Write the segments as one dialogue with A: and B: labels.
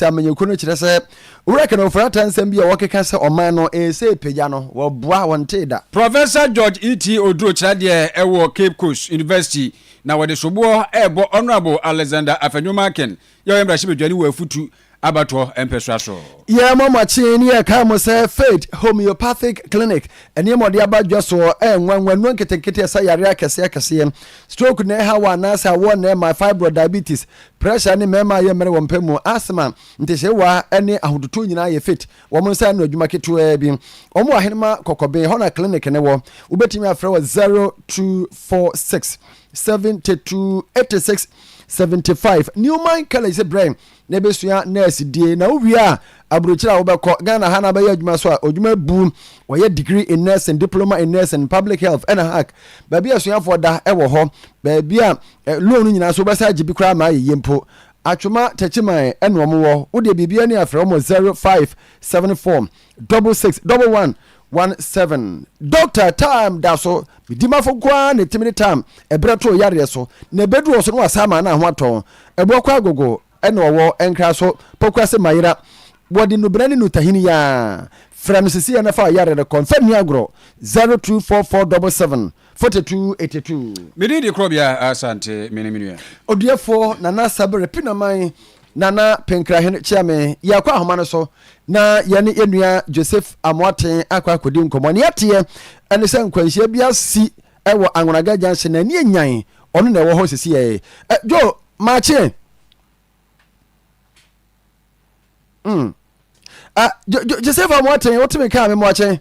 A: sɛ amanyɔkuo no kyerɛ sɛ Owura Kenneth Ofori Atta nsɛm bi a wɔkeka sɛ ɔman no ɛsɛ ɛpagya no, wɔboa, wɔntee da. Professor George E. T.
B: Oduro kyerɛ deɛ ɛwɔ Cape Coast University na wɔde soboɔ ɛrebɔ Honourable Alexander Afenyo-Markin yɛ ɔyɛ mmarahyɛbadwani wɔ Afutu abatoɔ mpɛsoa so. Yɛn mɔ mo kyen
A: ne yɛ kae mo sɛ Faith Homeopathic Clinic nneɛma ɔde aba dwa soɔ ɛyɛ nwanwa, nnuro nketenkete ɛsa yareɛ akɛseɛ akɛseɛ, stroke na ɛha wɔ anaasɛ awoɔ na ɛma, fibroid, diabetes, Pressure ne mmarima a yɛmmrɛ wɔn pɛ mu asthma, ntesewaa ne ahototow nyinaa yɛ fit. Wɔn nsa ano adwuma ketewaa bi. Wɔwɔ Ahenemma Kɔkɔben, ɛhɔ na clinic no wɔ. Wobetumi afrɛ wɔ 0246 72 86 75. Newman College brɛ na ebesua nurse die. Na wowie a, aburokyiri a wobɛkɔ Ghana ha na abɛyɛ adwuma so a odwuma bu. Wɔyɛ degree in nursing, diploma in nursing, public health ɛna hack. Baabi a asuafoɔ da wɔ hɔ, baabi a Ɛ loan no nyinaa so wobɛsan agye bi koraa ma ayɛ yie mpo Atwoma Techiman ɛna ɔmo wɔ wo deɛ biribi ani a frɛ ɔmo zero five seven four double six double one one seven. Doctor time da so me dimafo nko ara na ɛtumi de time ɛberɛ to yareɛ so na ɛbɛduru hɔ so na wasan ama na ho atɔ wo ɛboɔ kɔ agogo ɛna ɔwɔ nkraso pokuase mayera wɔde nubena ne nutahini yaa frɛ no sesei na fa wo yareɛ no kɔ mfa nni agorɔ zero two four four double seven Forty two eighty two. Me din de Korɔbea
B: Asante, me ne me nua. Odiɛfoɔ Nana
A: Sabere Pinaman, Nana Penkrahen Kyeame. Yɛakɔ ahoma no so na yɛne yɛn nua Joseph Amoaten akɔ akɔdi nkɔmmɔ. Nea ɛteɛ ne sɛ nkwanhyia bi asi wɔ Angonaga Junction na ani anyan. Ɔno na ɛwɔ hɔ sisiɛ. Eh, Joe, maakye. Mm. Ah, Joseph Amoaten, wotumi kaa me mmoakye.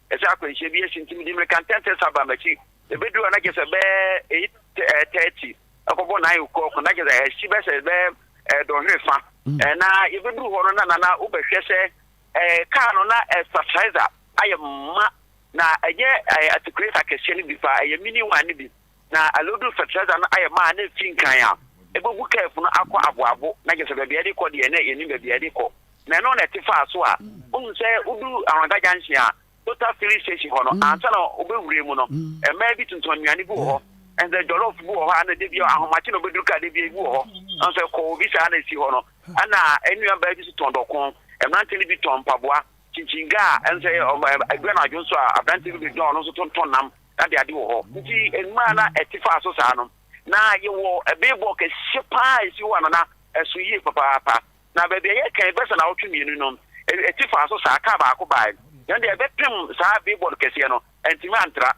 C: Ɛsɛ akwanhyia bi asi nti mede mmirika ntɛntɛ san baa m'akyi. Ɛbɛduru a na kyerɛ sɛ bɛyɛ eight ɛɛ thirty ɛkɔbɔ nine o'clock na kyerɛ sɛ ɛhyi bɛ sɛ bɛ ɛɛ dɔnhwere fa. Ɛɛ na yɛbɛduru hɔ no na nana wobɛhwɛ sɛ ɛɛ kaa no na ɛsasaiza ayɛ ma na ɛnyɛ ɛɛ atikulɛta kɛseɛ no bi fa ɛyɛ mini one no bi. na Alodo Fertilizer no ayɛ ma a na efi nkan a ebogu curve no akɔ aboabo na kyerɛ sɛ baabi a ɛde kɔ deɛ na yɛnim baabi a ɛde kɔ na ɛno na ɛte faa so a wohu sɛ wodu Ahorada junction a Total filling station hɔ no ansa na wobɛwura mu no mmaa bi tontɔn nnuane bi wɔ hɔ ɛnsɛ jollof bi wɔ hɔ a na da bi ahomakye na wobɛduru kaa da bi bi wɔ hɔ ɛnsɛ ɛkɔ obi saa na ɛsi hɔ no ɛna nnua baa bi so tɔn dɔkon mmerante no bi tɔn mpaboa kyinkyin gaa ɛnsɛ ɛdua no adwo nso a aberante bi bɛdwa ɔno nso tontɔn nam na de ade wɔ hɔ. Ntsi mmaa na ɛte faa so saa no, na yɛwɔ beebɔ kɛseɛ paa a ɛsi hɔ a na na ɛso yie papaapa. Na baabi a yɛkɛn bɛsa naawɔtwe mmienu no, ɛte faa so saa, kaa baako baae, na deɛ ɛbɛpem saa beebɔ no kɛseɛ no, antumi antra.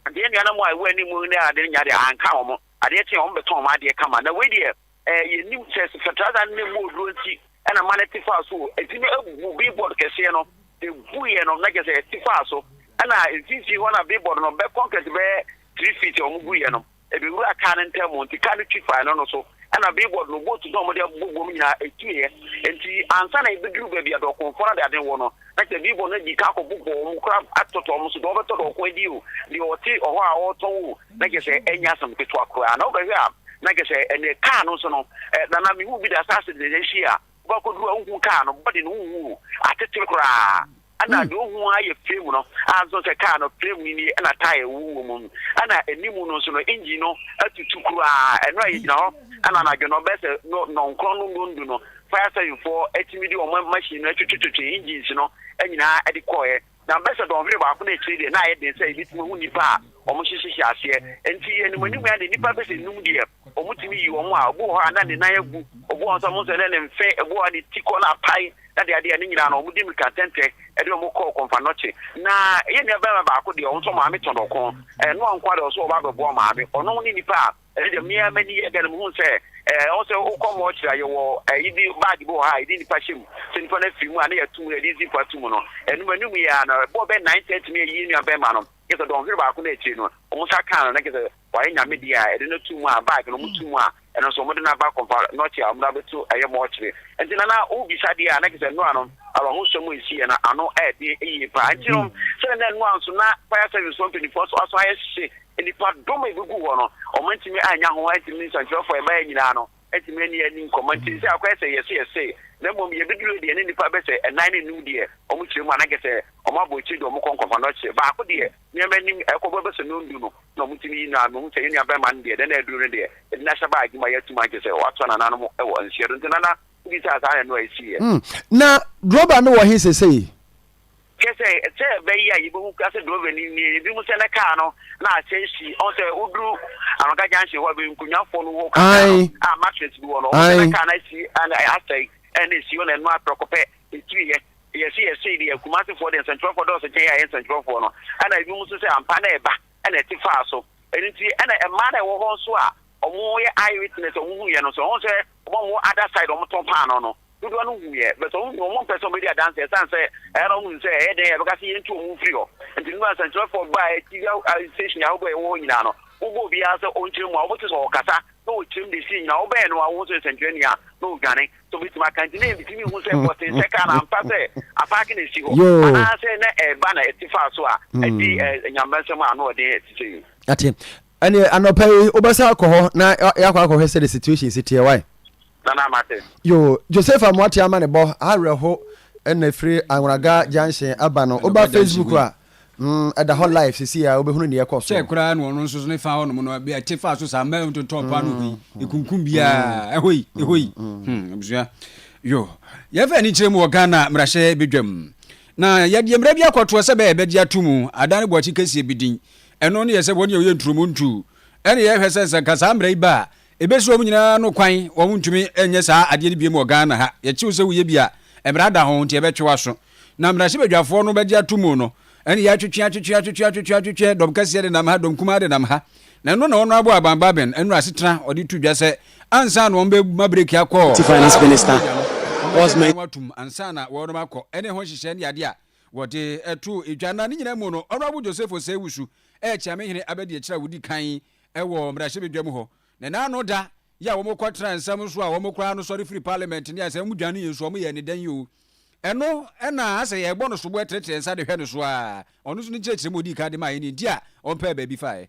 C: Ntsi yɛn nuanom a ɛwɔ anim ne ade no nyaa deɛ, anka wɔn. Adeɛ kyeeɛ wɔn bɛtɔn wɔn adeɛ kama. Na wei deɛ, eh, yɛnim sɛ satrada no ne mu oduro nti ɛna ma no te faa so o. Ɛti no abu billboard kɛseɛ no, ɛbuiɛ no, na kyɛ sɛ ɛte faa so. Ɛna mfimfini hɔ na billboard no bɛ concrete bɛyɛ three feet a wɔn guiɛ no, ɛbɛwura kaa no ntam nti kaa no twi faa ɛno no so. Ɛna billboard no boat no a wɔde abobɔ bom nyinaa ɛtuiɛ. Nti ansa na ɛbɛduru baabi a dɔɔkonfoɔ no ade ade wɔ no, na kyɛ billboard no adi ka akɔbobɔ wɔn koraa atotɔ wɔn so, deɛ ɔbɛtɔ dɔɔko adi o, deɛ ɔte ɔhɔ a ɔretɔn o, na kyerɛ sɛ ɛnyɛ asɛm ketewa koraa. Na wobɛhwɛ a, na kyerɛ sɛ ɛnneɛ kaa no nso no, ɛ, na na mehu bi da saa accident no akyi a, wobɛkɔduru a wohu kaa no body no, wohu atetere koraa. Ɛna deɛ wohu ara yɛ frame no, a nso sɛ kaa no frame no nie ɛna tyre wɔ wɔ mu. Ɛna anim no nso no, engine no atutu koraa. Ɛno a yɛgyina hɔ, ɛna anadwo no bɛyɛ sɛ no nnɔnkron no nnɔndu no, fire service foɔ atumi de wɔn machine no twetwetwetwe engines no nyinaa de kɔeɛ. Na Ambassador Ɔhene baako no akyiri deɛ, na ayɛ den sɛ yɛbɛtumi ahu nnipa a wɔhyehye hyɛ aseɛ. Enti yɛn animuanimu ara deɛ, nnipa bɛsɛ nnum deɛ, wɔtumi yi wɔn a, obi wɔ hɔ a, na ne nan agu, obi wɔ hɔ nso a, mohu sɛ na ne mfe, obi wɔ hɔ a, ne ti kɔ no apae, na adeadeɛ a, ne nyinaa no, wɔde mmirika ntɛntɛ de wɔn kɔɔ Komfanoche. Na yɛn nuabarima baako deɛ, ɔno nso, ɔmaame tɔn ɔko. Ɛnyɛ ɔno nko ara deɛ, ɔno nso ɔba bɛboa ɔmaame. Ɔno ne nipa a Ɛno deɛ me ara m'ani yɛ dɛn, mehunu sɛ ɛɛ ɔwɔ sɛ wokɔ mɔɔkyere a yɛwɔ ɛyi bi baage bi wɔ hɔ a yɛde nipa hyɛ mu sɛ nipa no afiri mu a na yɛato mu yɛde zip ato mu no ɛno m'anim yɛ ara no ɛbɔɔ bɛyɛ nine thirty na yɛyi yɛn nua bɛrima no kyerɛ sɛ dɔnhwere baako no akyire no wɔn nsa kaa no na kyerɛ sɛ wayɛ nyame deɛ a ɛde no to mu a baage no wɔn to mu a ɛno nso wɔde no aba kɔmpa nɔkye a wɔn de abɛto ɛyɛ mɔɔkyere nti na na wobisa deɛ a na kyerɛ sɛ nnora no awahosuo mu esi yɛ na ano ɛde yie paa nti no sɛ na nnora nso na fire service wɔn mpanimfoɔ nso aso ayɛ hye Nnipadɔm a egugu hɔ no, wɔantumi annya ho antumi, nsɛnkyerɛwfo a ɛbae nyinaa no antumi anni ani nkɔmmɔ nti, nsɛ akɔyɛ sɛ yɛse yɛse, na mmom yebeduru deɛ ne nnipa bɛsɛ ɛnan ne anum deɛ wɔkyerɛ mu, anaa kɛsɛ wɔabɔ akyire deɛ wɔkɔ nkɔfa no ɔkyerɛ baako deɛ nneɛma anim ɛkɔbɔ bɛsɛ nɔndu no na wɔtumi yi no a, mehu sɛ yɛn nuabarima no deɛ, nana aduru no deɛ, yɛde no ahyɛ baa adwuma yɛ atum ankyɛ sɛ wɔatoa nananom wɔ nseɛ do, nti nana wobisaa saa na ɛno a ɛsiiɛ. Na
A: Grover no wɔ he sesei? Kyerɛ sɛ,
C: sɛ ɛbɛyɛ a yebehu koraa sɛ drɔva no nie. Ebinom sɛ ne kaa no na akyɛn si. Ɔn sɛ woduru Aroka Junction hɔ a, bɛyɛ nkunyafo no hɔ kakra no a mattress bi wɔ no. Ɔn sɛ ne kaa no asi ɛɛ asɛe ɛna esi hɔ na ɛno ara prɛko pɛ etuiɛ. Yɛse yɛsee deɛ, Kumasefoɔ deɛ nsɛnkyerɛwfoɔ dɔɔso kyɛn yɛn a ɛyɛ nsɛnkyerɛwfoɔ no. Ɛna ebinom nso sɛ ampa na ɛba ɛna ɛte faa so. Ɛno nti ɛna mmaa no a ɛwɔ hɔ nso a wɔyɛ eye witness a wɔhuiɛ no nso, ɔn sɛ. Wɔn a wɔwɔ other side a wɔtɔn paanoo no, dodoɔ no huiɛ but wɔn deɛ wɔmpɛ sɛ wɔbɛdi adanseɛ ɛsiane sɛ ɛyɛ a na wɔhunu sɛ ɛyɛ dɛn a yɛbɛka sɛ yɛntu wɔn mfiri hɔ. Nti no na nsɛnkyerɛfoɔ baa TV station ahodoɔ a yɛwɔ hɔ nyinaa no, wobɔ obiara sɛ ɔnkyerɛ mu a, wobɛte sɛ ɔrekasa na ɔkyerɛm deɛ ɛsiiɛ nyinaa. Wobɛn no a wohu sɛ nsɛnkyerɛnni a na ɔredwane sɛ ɔbɛtumi aka. Nti na yɛntumi nhu sɛ bɔsen sɛ kaa no ampa sɛ apaake na ɛsi hɔ anaasɛ na ɛreba na ɛte faa so a ɛde Nyame nsɛm a na ɔde te sɛ yi. Ate.
A: Ɛneɛ anɔpa yi wobɛsan akɔ hɔ na yɛakɔ akɔhwɛ sɛ the situation si teɛ wae. Nana mate. Yoo Joseph Amoate ama ne bɔ awerɛho ɛna ɛfiri Anwraga junction aba no woba Facebook a mm ɛda hɔ live sisi a wobɛhunu neɛ ɛkɔ so. Kyɛ koraa na ɔno nso ne
B: fa hɔ nom no ɛte faa so saa mmaa ntotɔɔ paa no hoi ɛkunkum biaa ɛhoi ɛhoi hmm abusua yo yɛfa ani kyerɛ mu wɔ Ghana mmarahyɛ bɛdwam na yɛdeɛ mmara bi akɔtoɔ sɛ bɛyɛ bɛgye ato mu adan ne bɔkye kɛseɛ bi din Ɛno ne yɛ sɛ wɔn yɛ ɔyɛ nturomu ntu. Ɛne yɛ hwɛ sɛ sɛ nka saa mmara yi ba a, ɛbɛsi wɔn nyinaa no kwan, wɔn ntumi nyɛ saa adeɛ no biom wɔ Ghana ha. Yɛkye wo sɛ wo yɛ bi a, mmara da ho nti ɛbɛtwe w'aso. Na mmarahyɛ badwafoɔ no bɛgye ato mu no, ɛne yɛ atwetwe, atwetwe, atwetwe, atwetwe, atwetwe, dɔm kɛseɛ denam ha, dɔm kumaa denam ha. Na ɛno na Honourable Alban Baben nnura asetena ɔde to dwa sɛ ansa na wɔn bɛ ma breki akɔ, na afei nso wɔn nso
D: wɔn nso wɔn atum ansa na
B: wɔn akɔ, ɛne ho nhyehyɛɛ ne adeɛ a. Wɔde too edwa, na ne nyinaa mu no, Honourable Joseph Osei-Owusu rekyea me hene abadiakyire a wɔdi kan wɔ mmarahyɛbadwam hɔ. Na n'ano da yɛ a wɔkɔtena nsɛm so a wɔn koraa no sɔre firi Parliament ne asɛm mu dwane yɛn so, wɔyɛɛ no dɛn yi o? Ɛno na asɛ yɛrebɔ no soboɔ trɛtrɛ nsa de hwɛ no so ara. Ɔno nso ne nkyerɛkyerɛmu a ɔdii kan de maeɛ nie, nti a ɔmpɛɛ baabi faeɛ.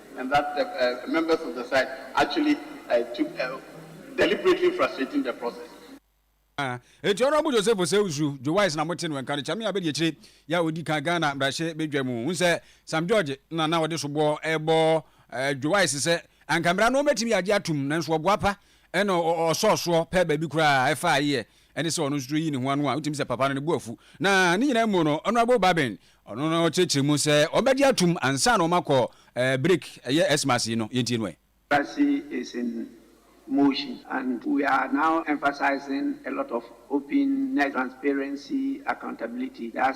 E: and that the members of the side actually took a deliberately frustrating the process.
B: Enti Honourable Joseph Osei-Usu, Joe Wise na mote no nka no, Kyame Abadiakyire yɛ a ɔdi kan Ghana mmarahyɛ badwa mu. Wohu sɛ Sam George na na ɔde soboɔ rebɔ Joe Wise sɛ anka mmara no ɔmmɛtumi agye atom nanso ɔboapa na ɔsɔɔ soɔ pɛ baabi koraa ɛfa ayeyɛ ɛne sɛ ɔno nso reyi ne ho ano a, wotumi sɛ papa no ne bo afu. Na ne nyinaa mu no, Honourable Babin, ɔno na ɔkyerɛkyerɛ mu sɛ wɔbɛgye atom ansa na wɔakɔ eh, break, ɛyɛ Xmas yi no. Yɛntie no ɛ. Embassy is in
F: motion and we are now emphasizing a lot of openness, transparency, accountability. That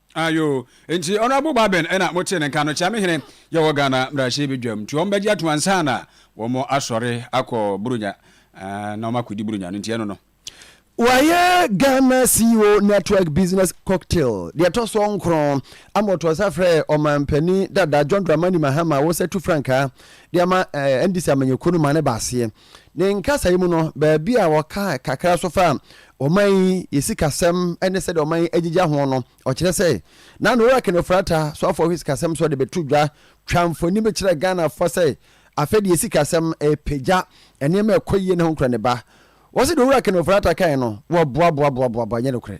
F: Ayo
B: nti honourable Baben ɛna mo tee ne nka no kyea me hene yɛwɔ Ghana mbrahye bedwam nti wɔn bɛgye atom ansa na wɔn asɔre akɔ Buronya na wɔn akɔdi Buronya no nti ɛno no. Wayɛ
A: Ghana CEO Network Business Cocktail deɛ ɛtɔ soɔ nkron ama ɔtoo nsa frɛɛ Ɔmanpanin dada John Dramani Mahama a wɔsatu frankaa de ama NDC amanyɛkuo no maa no baa aseɛ. Ne nkasae mu no, baabi a ɔkaa kakra nso faa ɔman yi, yɛ sikasɛm ne sɛdeɛ ɔman yi agyigya ho no, ɔkyerɛ sɛ, na na ɔreka no frata so afoɔ hwɛ sikasɛm so de bɛto dwa, twa mfoni bɛkyerɛ Ghanafoɔ sɛ afei deɛ sikasɛm repagya nneɛma a ɛkɔ yie ne ho nkoraniba. Wɔse deɛ ɔreka no frata kae no, wɔboaboaboaboa, ɛnyɛ nokorɛ.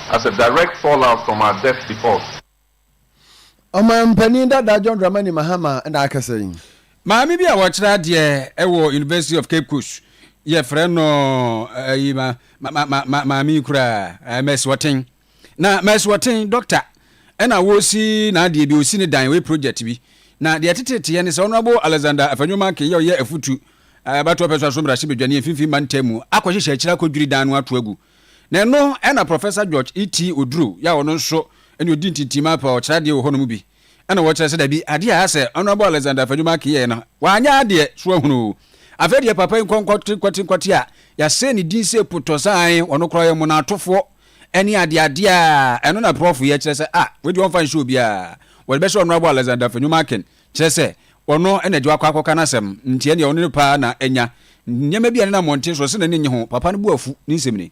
G: As a direct fallout from our debt default.
A: Ɔmanpanin dada John Dramani Mahama na akasa yi. Maame bi a
B: ɔkyerɛ adeɛ wɔ University of Cape Coast, yɛfrɛ no ayi ma ma ma ma maame yi koraa Masuɔten. Na Masuɔten dɔkta ɛna wɔsi n'adeɛ bi, ɔsi ne dan, ɔyɛ project bi. Na deɛ ɛteteteɛ ne sɛ Honourable Alexander Afenyo-Markin yɛ ɔyɛ afutu abatoɔ pɛsoa so mmarahyɛbadwani mfimfini mantam mu akɔhyehyɛ akyire akɔdwiri dan no ato agu. Na ɛno na Professor George E. T. Oduro yɛ a ɔno nso ne ɔdi ntintim apa ɔkyerɛ adeɛ wɔ hɔ no mu bi na ɔkyerɛ sɛ dabi adeɛ a asɛ Honourable Alexander Afenyo-Markin yɛeɛ no wanyɛ adeɛ so ahunu o. Afei deɛ papa yi nkɔnkɔte nkɔte nkɔte a yɛasɛe ne din sɛ potɔsaan ɔno koraa ɔyɛ mmonatofoɔ ɛne adeɛ adeɛ a ɛno na Prof yɛ kyerɛ sɛ ah wei deɛ ɔmfa nhyɛ obiara wɔde bɛhyɛ Honourable Alexander Afenyo-Markin Kyerɛ sɛ, ɔno na agya wakɔ akɔka n'asɛm, nti ɛnneɛ ɔno ne paa na anya. Nneɛma bi a ɛnenam mmɔnten soɔ sɛ n'ani nnye ho, papa no bo afu, ne nsɛm ni.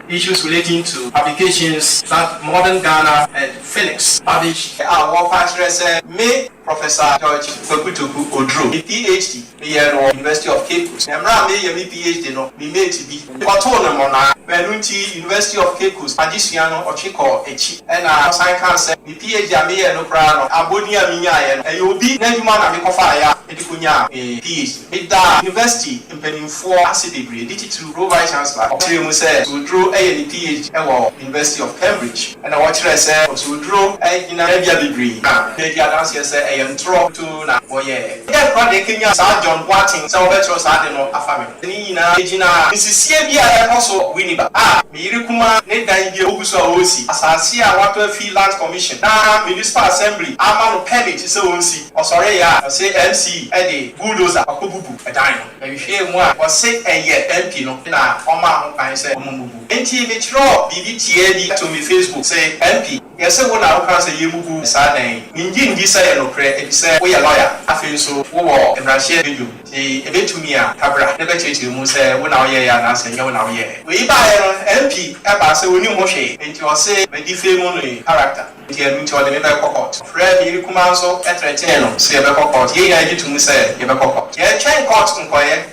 B: Issues relating
H: to publications that modern Ghana and Phoenix publish a wɔfa kyerɛ sɛ me, Professor George Kwaku Toku Oduro, me PhD, Meyɛɛ no wɔ University of Cape Coast. Mmerɛ a mereyɛ me PhD no, me mate bi, ɔtoo no mmonnaa. Ɛno nti, University of Cape Coast adesua no, ɔtwe kɔɔ akyi. Ɛnna ɔsan kaa sɛ, Me PhD a meyɛɛ no koraa no, abɔdin a menyaeɛ no, ɛyɛ obi n'adwuma na mekɔfaeɛ a mede kɔnyaa me PhD. Medaa University mpanimfoɔ ase bebree, de titiriw Pro-Vice-Chancellor a ɔkyerɛɛ mu sɛ Soduro yɛ ne PhD wɔ University of Cambridge. Ɛnna ɔkyerɛɛ sɛ Soduro gyina tebea bebree, na madi adanseɛ sɛ ɛyɛ ntorɔ. na wɔyɛɛ. Dɛn koraa na ɛkanyan saa John Boateng sɛ ɔbɛkyerɛw saa ade no afa me ho? Ne nyinaa gyinaa nsisie bi a ɛrekɔ so wɔ Winneba, a me yere kumaa ne dan bi a wogu so a wɔresi, asase a wɔatɔ afi Lands Commission na Municipal Assembly ama no pɛmit sɛ wɔnsi. Ɔsɔree a ɔse MC de bulldozer akɔbubu dan no. Ɛhwehwɛɛ mu a ɔse ɛyɛ MP no na ɔmaa ho kwan sɛ wɔmmubu. Enti mekyerɛw biribi tiaa bi to me Facebook se, MP, Yɛse wo na wokaa sɛ yɛmmubu saa dan yi. Mennye nndi sɛ ɛyɛ nokorɛ efisɛ woyɛ lɔya, afei nso wowɔ mmarahyɛ badwam nti ɛbɛtumi a ka bra na bɛkyerɛkyerɛ mu sɛ wo na woyɛeɛ anaasɛ ɛnyɛ wo na woyɛeɛ. Wei baeɛ no MP baa sɛ ɔnim ho hwee nti ɔse me defame no yi character nti ɛno nti ɔde me bɛkɔ court. Ɔfrɛɛ me yere kumaa nso threatenee no sɛ yɛbɛkɔ court. Yɛn nyinaa gye to mu sɛ yɛbɛkɔ court. Yɛtwɛn court nkɔeɛ.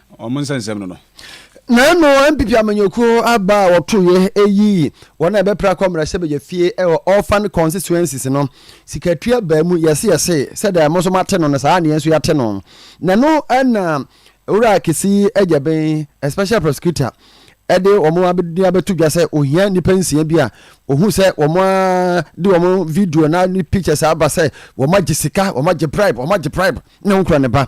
B: wɔn nsɛnsɛm no no. Na mmom
A: NPP amanyɔkuo aba a wɔtoeɛ ɛyii wɔn a ɛbɛpra akɔ mmarahyɛbadwa fie ɛwɔ Orphan Constituencies no sikatua baa mu yɛse yɛse sɛdeɛ mo nso moate no no saa ara na yɛn nso yɛate no na ɛno na Owura Kesi Agyaben Special Prosecutor ɛde wɔn abɛdini abɛto dwa sɛ ohia nnipa nsia bi a ohu sɛ wɔn a de wɔn video na ne pictures aba sɛ wɔn agye sika wɔn agye bribe wɔn agye bribe na wɔn kura ne ba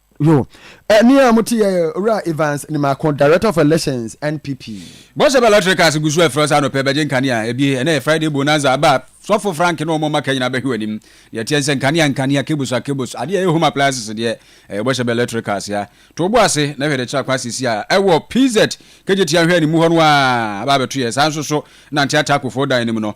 I: Yo,
A: eh, ni a mo ti yɛ Owura Evans Nimako, Director of Elections, NPP. Bɔhyɛ bɛ lɔtiri
B: kaase gu so ɛfrɛ ɔsɛ anɔpɛ bɛgye nkanea ɛbie ɛnɛ yɛ Friday bonanza aba sɔfo Frank ne wɔn ɔma ka nyinaa bɛhwe w'anim deɛ ɛteɛ nsɛ nkanea nkanea cables a cables adeɛ ɛyɛ home appliances deɛ ɛyɛ bɔhyɛ bɛ lɔtiri kaase a to obo ase na hwɛ de kyerɛ akwa sisi a ɛwɔ PZ kegye tia hwɛ animu hɔ no a aba abɛto yɛ saa nso so nante ataakofo dan anim no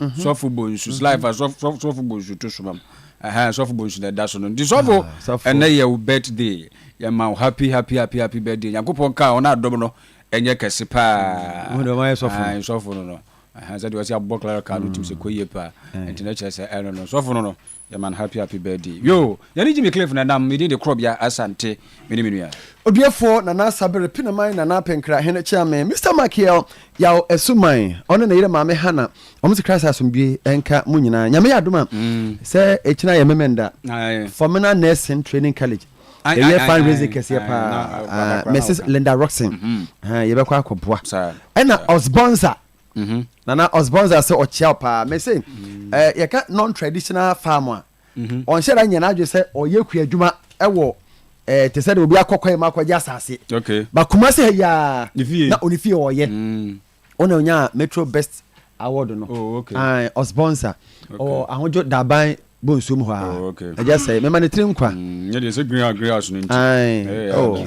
B: mhm. sɔfo bonsu mhm. life sɔfo bonsu to so mam ɛhɛn sɔfo bonsu na ɛda so no nti sɔfo ah, ɛnɛ yɛ wo birthday yɛ ma wo happy happy happy happy birthday nyankopɔn kaa ɔno adɔm no ɛnyɛ kɛse paa mm, ɛhɛn
A: sɔfo no no
B: ɛhɛn sɛ deɛ ɔsi abɔ clara kaa no tum sɛ kɔ yie paa ɛnti na kyerɛ sɛ ɛno no sɔfo no no. Yɛ man happy happy birthday yoo yɛ ne Jimmy Cliff na ɛnam me din de Korɔbea Asante me ne me nua. Odiefoɔ Nana
A: Asabere Pinaman Nana Apenkra Hene Kyeame Mister Makiel Yaw Asuman ɔne ne yere Maame Hannah wɔn se Christ asomdwie nka mo nyinaa Nyame yɛ adom a sɛ ɛkyina yɛ Memenda Formina Nursing Training College ɛyɛ fund raising kɛseɛ paa Mrs Linda Rockson yɛbɛkɔ akɔboa ɛna Osbonsa Mm-hmm. Nana Osbornza sɛ ɔkyea wo paa. Me se, mm. eh, yɛka non-traditional farm a, mm-hmm. ɔnhyɛ da nyɛ n'adwe sɛ ɔyɛ kua adwuma wɔ eh, te sɛ de obi akɔkɔ mu akɔgye asase. Okay. Bakuma se
B: ha yiaa
A: na ɔne fie ɔyɛ. Mm. Ɔna ɔnya Metro Best Award no. Oh, okay. Uh,
B: Osbornza.
A: Okay. Ɔwɔ ahodwo daban bɔ nsuo mu hɔ a. Oh, okay. Ɛgya sɛ, mɛma ne tiri nkwa. Mm, nyɛ deɛ sɛ green house green
B: house no nti. Ae. Hey, oh.